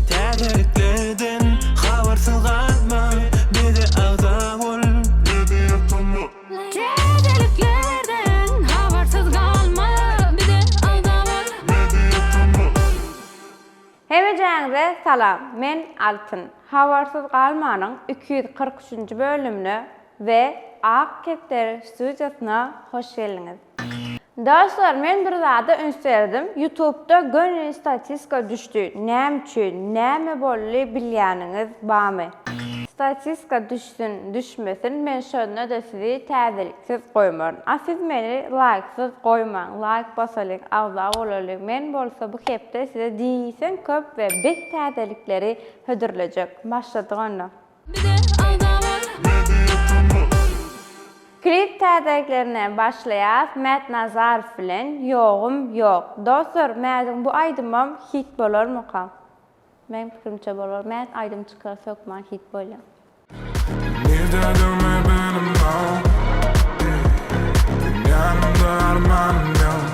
Täzeliklerden habarsyz galma, bize agza bol, bizi ýatlama. Täzeliklerden habarsyz galma, bize agza bol, bizi ýatlama. Hemejäňize salam, men Altyn. Habarsyz galmanyň iki ýüz kyrk üçünji bölümine we Ak kepderi studiýasyna hoş geldiňiz. Dostlar men bir zada üns berdim ýutubda göni statiska düşdi näme üçin näme boldy bilýäniňiz bamy statiska düşsün düşmesin men şondada sizi täzeliksiz goýmaryn a siz meni laýksyz goýmaň laýk basalyň agza bolalyň men bolsa bu hepde size diýseň köp we bet täzelikleri hödürlejek başladyk onda. Klip täzeliklerine başlaýas Mät Nazarow bilen Ýogum ýok. Dostlar Mädiň bu aýdymam hit bolarmyka? Meň pikirimçe bolar. Mät aýdym çykarys hökman hit bolýar. Nirde durme benim ol ey Dünýämde armanym ýok.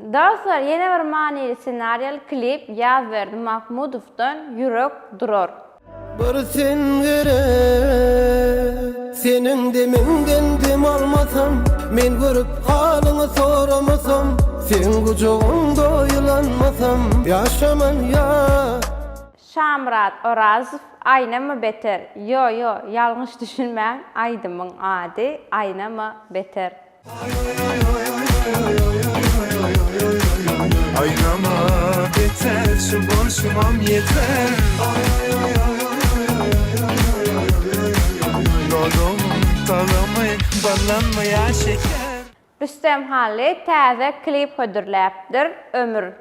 Dostlar ýene bir manyly ssenariýaly klip Ýazberdi Mahmudowdan Ýürek durar. Bir sen gerek Seniň demiňden dem almasam Men görüp halyňy soramasam Seň gujagyňda ýylanmasam Ýaşaman ýa. Şamyrat Orazow Aýnama beter, ýo ýo ýalňyş düşünmäň aýdymyň ady Aýnama beter. Aýlama beter şu bolşumam ýeter Dodagym tagamy ballanmaýa şeker. Rüstem Hally täze klip hödürläpdir, Ömür.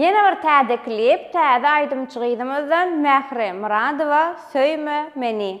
Ýene bir täze klip täze aýdymçy gyzymyzdan Mähri Myradowa Söýme meni.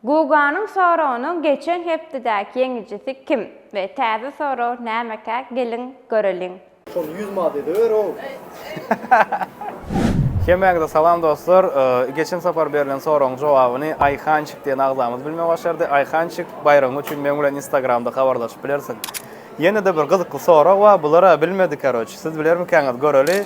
Guganyň soragynyň geçen hepdedäki ýeňijisi kim we täze sorag nämekä geliň göreliň. Şony ýüz manat edeber ow. Hemmäňize salam dostlar. Geçen sapar berlen soragyň jogabyny Aýhançik diýen agzamyz bilmegi başardy. Aýhançik baýragyň üçin meň bilen instagramda habarlaşyp bilersiň. Ýene-de bir gyzykly sorag bar, bular-a bilmedi karoç. Siz bilermikäňiz göreli.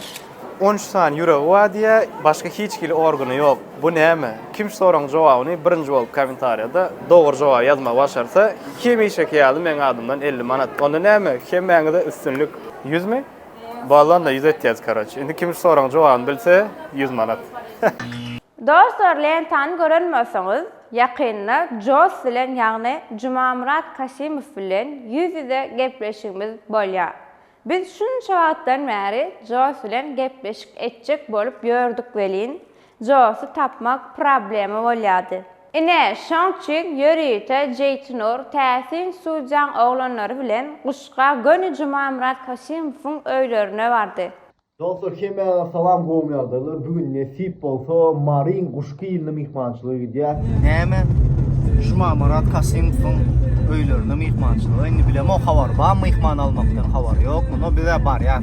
On üç sany ýüregi bar diýýä, başga hiç hili organy ýok. Bu näme? Kim şu soragyň jogabyny birinji bolup komentarýada dogry jogaby ýazmagy başarsa, hemişeki ýaly meň adymdan elli manat. Onda näme? Hemmäňize üstünlik. Ýüzmi? Bollanda ýüz etýäs karoç. Indi kim şu soragyň jogabyny bilse, ýüz manat. Dostlar lentany gören bolsaňyz ýakynda Joss bilen ýagny Jumamyrat Kasymow bilen ýüz ýüze gepleşigimiz bolýar. Biz şunça wagtdan bäri Joss bilen gepleşik etjek bolup ýördük welin, Jossy tapmak problema bolýardy. Ine, şoň üçin ýörite Jeýtnur täsin Sujaň oglanlary bilen Guşga göni Jumamyrat Kasimowyň öýlerine bardy. Dostlar hemmäňize salam gowy ýagdaýlar. Bu gün nesip bolsa Maryň guşky ýylyna myhmançylyga gidýär. Näme? Jumamarat Kasymowyň öýlerine myhmançylyga indi bilemok habar bar myhman almakdan habar ýok. Muny bize barýar.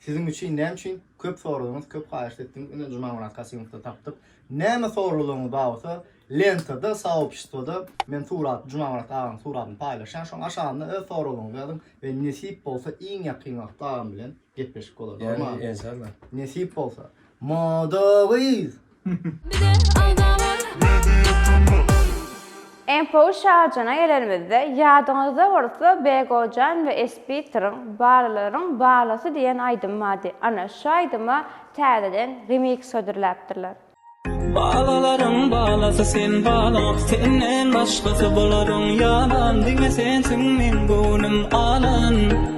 Siziň üçin näme üçin köp soradyňyz, köp haýyşt etdiňiz, ine Jumamyrat Kasymow-da tapdyk. Näme soralaryňyz bar bolsa, lentada, soobşestwoda men surat, Jumamyrat aganyň suratyny paýlaşýan, şoň aşagynda öz soralaryňyzy ýazyň we nesip bolsa iň ýakyn wagtda agam bilen gepleşik bolar, bolmamy? Ýa-ni, enşalla. Nesip bolsa. Moda gyz! Info şajyna gelenimizde, ýadyňyzda bolsa Begojan we Esbitryň Balylaryň balysy diýen aýdymy bardy. Ana, şu aýdyma täzeden remix hödürläpdirler. Balylaryň balysy sen balyň Senden başgasy bularyň ýalan Diňe sensiň meň göwnüm alan.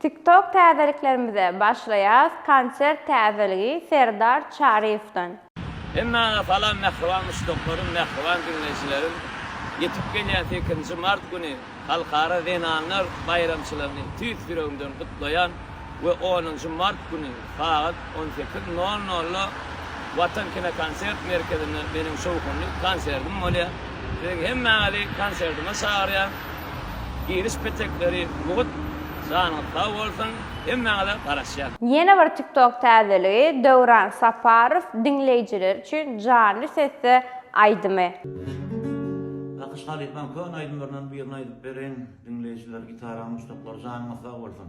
TikTok täzeliklerimize başlaýas konsert täzeligi Serdar Çaryýewden. Hemmäňe salam mähriban muşdaklarym, mähriban diňleýjilerim! Ýetip gelýän sekizinji mart güni Halkara zenanlar baýramçylygyny tüýs ýüregimden gutlaýan we onunjy mart güni, Sagat on sekiz nol nolda Watan kinokonsert merkezinde meniň şowhunly konsertim bolýar. Siziň hemmäňizi konsertime çagyrýan. Giriş petekleri mugt. Janyňyz sag bolsun. Hemmäňize garaşýan. Ýene bir TikTok täzeligi Döwran Saparow diňleýjiler üçin janly sesde aýdymy. Nakyş halypam köne aýdymlaryndan birini aýdyp beriň diňleýjiler gitara muşdaklary janyňyz sag bolsun.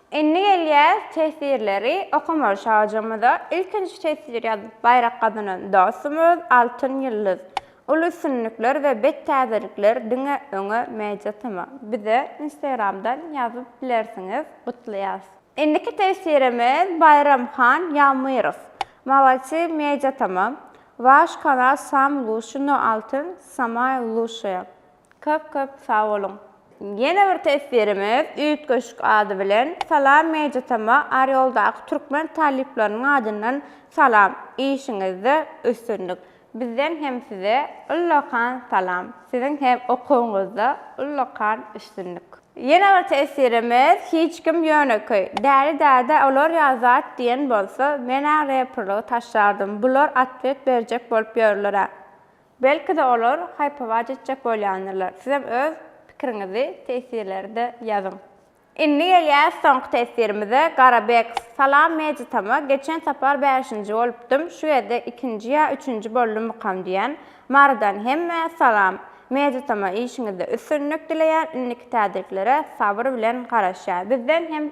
Indi gelýäs teswirleri okamaga şajamyza. Ilkinji teswir ýazyp baýrak gazanan dostumyz Altyn Ýyldyz. Uly üstünlikler we bet täzelikler diňe öňe Media Tm. Bize Instagramdan ýazyp bilersiňiz. Gutlaýas. Indiki teswirimiz Baýramhan Ýagmyrow. Malodsi Media Tm. Waş kanal sam lushi no altyn samaýa lushaýa. Köp köp sag boluň. Ýene bir teswirimiz üýtgeşik ady bilen Salam Mejitama Orýoldaky türkmen talyplarynyň adyndan salam işiňizde üstünlik bizden hem size ullakan salam siziň hem okuwyňyzda ullakan üstünlik. Ýene bir teswirimiz hiç kim ýönekeý Däli däde olar ýa zat diýen bolsa menä reprlygy taşlardym bular atwet berjek bolup ýörlerä. Belki-de olar haýp-hawaç etjek bolýandyrlar. Sizem öz pikiriňizi tesirlerde ýazyň. Indi gelýäs soňky tesirimize, Garabek, Salam Mejitama geçen sapar bäşinji bolupdym, şu gezek ikinji ýa üçünji boldummykam diýýän. Marydan hemmä salam. Mejitama işiňizde üstünlik dileýän, indiki täzeliklere sabyr bilen garaşýar. Bizden hem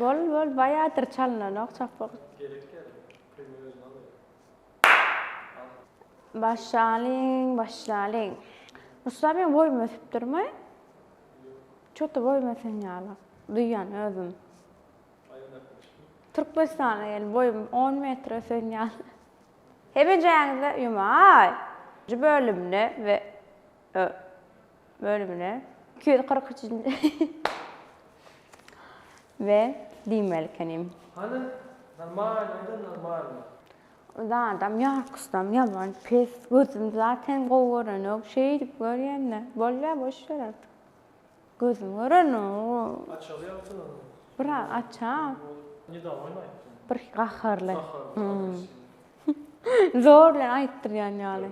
Bol bol baýadyr çalynanok çapyk. Başlalyň, başlalyň. Musa men boýum ösüp durmy? Çoty boýum ösen ýaly. Duýan özüm. Türkmenistana gel boýum 10 metr ösen ýaly. Hemejäňize ýumaý. Nji bölümde we Ö, bölümine iki ýüz kyrk üçünji we diýmeli ekenim. Hany, normalnymy-da normalny? Zadam ýarkusdam ýaman pes, gözüm zaten gowy görenok, şeýdip görýän-de, bolýa boş ber artyk. Gözüm görenok. Açaly ýagty ony. Biraz açar. Nedagoýny aýtdyň. Birki gaharly. Gaharly, agressiwny. Zor bilen aýtdyrýan ýaly.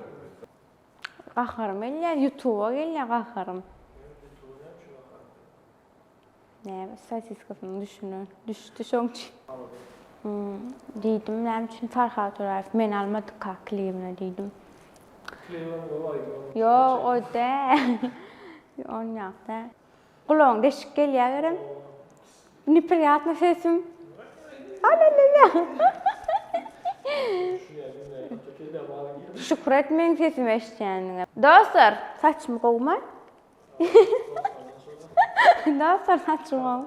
Gaharym gelýär, ýutuba gelýär gaharym. Näme sosiskasynyň düşüne düşdi şoň üçin. Diýdim näme üçin Farhad Toraýew meni almadyka klibine diýdim. Klibem gowy aýdymam. Ýok o däl. Ony ýok däl. Gulagyň deşik gelýäwerem. Nepriýatny sesim. Alelele. Şükür et meň sesimi eşitýänine. Dostlar, saçym gowumy? Dostlar, saçym gowy.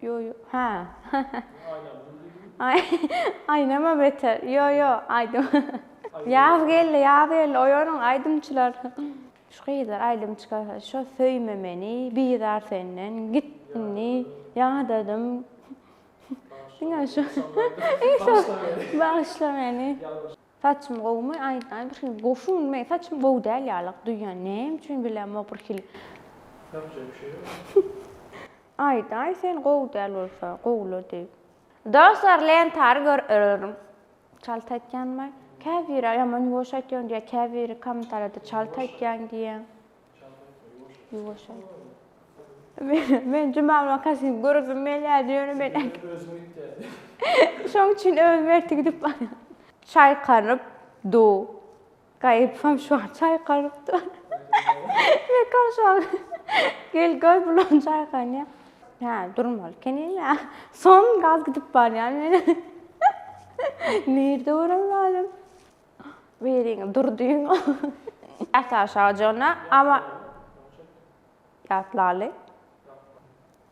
Ýo, ýo, ha. Aý, aýnama beter. Ýo, ýo, aýdym. Ýaz geldi, ýaz geldi. Oýanyň aýdymçylar. Şu gyzlar aýdym çykarsa şo söýme meni bizar senden git indi ýadadym diňe şu bagyşla meni. Saçym gowumy aýdaý bir hil goşun meň saçym gowy däl ýalyk duýýan näme üçin bilemok bir hil Ýapjak bir şey ýok. Aýdaý sen gowy däl bolsa gowla diýip. Dostlar lentary gör örüň. Çalt aýtýanmy? Käbiri ýaman ýuwaş aýtýaň diýýär, käbiri kommentariýada çalt aýtýaň diýýär. Çalt aýtma, ýuwaş aýt. Ýuwaş aýt. Men, men Jumaly wakasyny göresim gelýärdi, ýöne men äk. Özüň git diýerdi. Şoň üçin özüm ertir gidip barýan. Çaýkanyp dur. Gaýypam şu an çaýkalyp dur. Mekam şu an gel gör bulan çaýkanýa. Hä, durmaly kenine. Son gaz gidip barýan meniň. Nirde görem lalem. Beriň dur diýiň. Ýat aşaga jonna, ama ýat laly.